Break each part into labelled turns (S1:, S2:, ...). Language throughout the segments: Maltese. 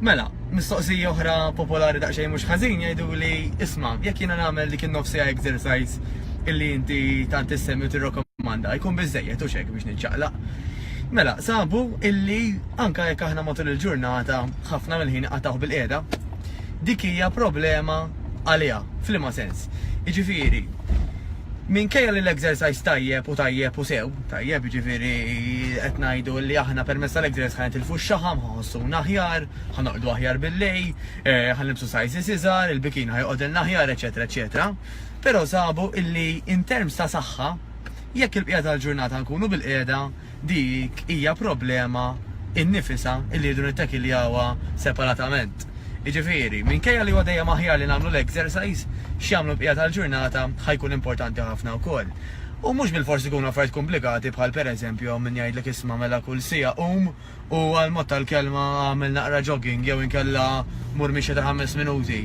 S1: Mela, mistoqsija oħra popolari daqsxejn mhux ħażin jgħidu li isma' jekk jiena nagħmel dik in-nofsija exercise illi inti tant issemmi tirrokomanda jkun biżejjed u xek biex niċċaqlaq. Mela, sabu illi anka jekk aħna matul il-ġurnata ħafna mill-ħin qataw bil-qiegħda, dik hija problema għaliha, f'liema sens. Jiġifieri, Minkejja li l-exercise tajjeb u tajjeb u sew, tajjeb jiġifieri qed ngħidu li aħna permezz tal-exercise ħa nitilfu x-xaħam, ħa nħossuna aħjar, ħa norqdu aħjar bil-lejl, ħa nilbsu sizes iżgħar, il-bikini ħa joqgħodilna aħjar, eċċetera eċċetera, però sabu illi in terms ta' saħħa, jekk il-bqija tal-ġurnata nkunu bil-qiegħda, dik hija problema innifisha li rridu nittakkiljawha separatament. Jiġifieri, minkejja li huwa dejjem aħjar li nagħmlu l-exercise, x'jagħmlu l-bqija tal-ġurnata ħa jkun importanti ħafna wkoll. U mhux bilfors ikunu affarijiet komplikati bħal pereżempju hawn min jgħidlek isma' mela kull siegħa qum u għall-mod tal-kelma agħmel naqra jogging jew inkella mur mixja ta' ħames minuti.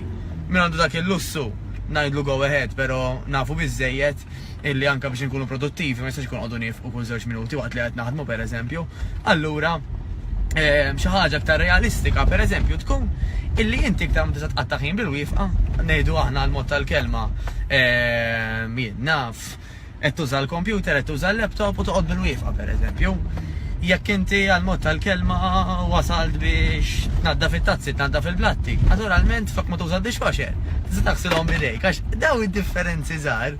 S1: Min għandu dak il-lussu, ngħidlu go ahead pero' nafu biżżejjed illi anke biex inkunu produttivi ma jistax ikun noqogħdu niefqu kull żewġ minuti waqt li qed naħdmu pereżempju. Allura xi ħaġa iktar realistika pereżempju tkun illi inti iktar ma tista' tqatta' ħin bil-wifqa, ngħidu aħna għall-mod tal-kelma, jien naf, Qed tuża l-kompjuter, qed tuża l-laptop u toqgħod bil-wieqfa pereżempju. Jekk inti għall-mod tal-kelma wasalt biex tnaddaf it-tazzi, tnaddaf il-platti, naturalment flok ma tuża d-dishwasher, tista' taħsilhom b'idejk għax dawn id-differenzi żgħar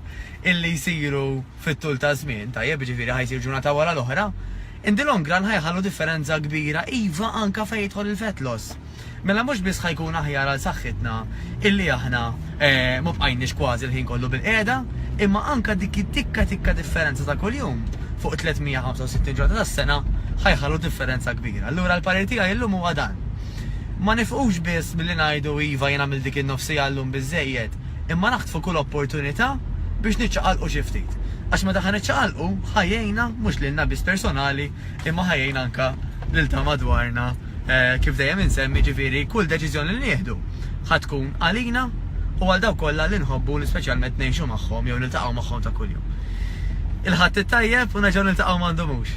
S1: illi jsiru fit-tul taż-żmien, tajjeb, jiġifieri ħa jsir ġurnata wara l-oħra, in the long run ħa jħallu differenza kbira, iva anke fejn jidħol il-fat loss. Mela mhux biss ħa jkun aħjar għal saħħitna illi aħna ma bqajniex kważi l-ħin kollu bilqiegħda, imma anke dik it-tikka tikka differenza ta' kuljum fuq 365 ġurnata tas-sena ħa jħallu differenza kbira. Allura l-parir tiegħi llum huwa dan. Ma nifqux biss milli ngħidu iva jien għamilt dik in-nofs siegħa llum biżżejjed, imma naħtfu kull opportunità biex niċċaqalqu xi ftit. Għax meta ħa niċċaqalqu, ħa jgħinna mhux lilna biss personali, imma ħa jgħin anke lil ta' madwarna kif dejjem insemmi ġifieri kull deċiżjoni li nieħdu ħa tkun għalina u għal dawk kollha li nħobbu li speċjalment ngħixu magħhom jew niltaqgħu magħhom ta' kuljum. Il-Ħadd it-Tajjeb u nerġgħu niltaqgħu m'għandumux.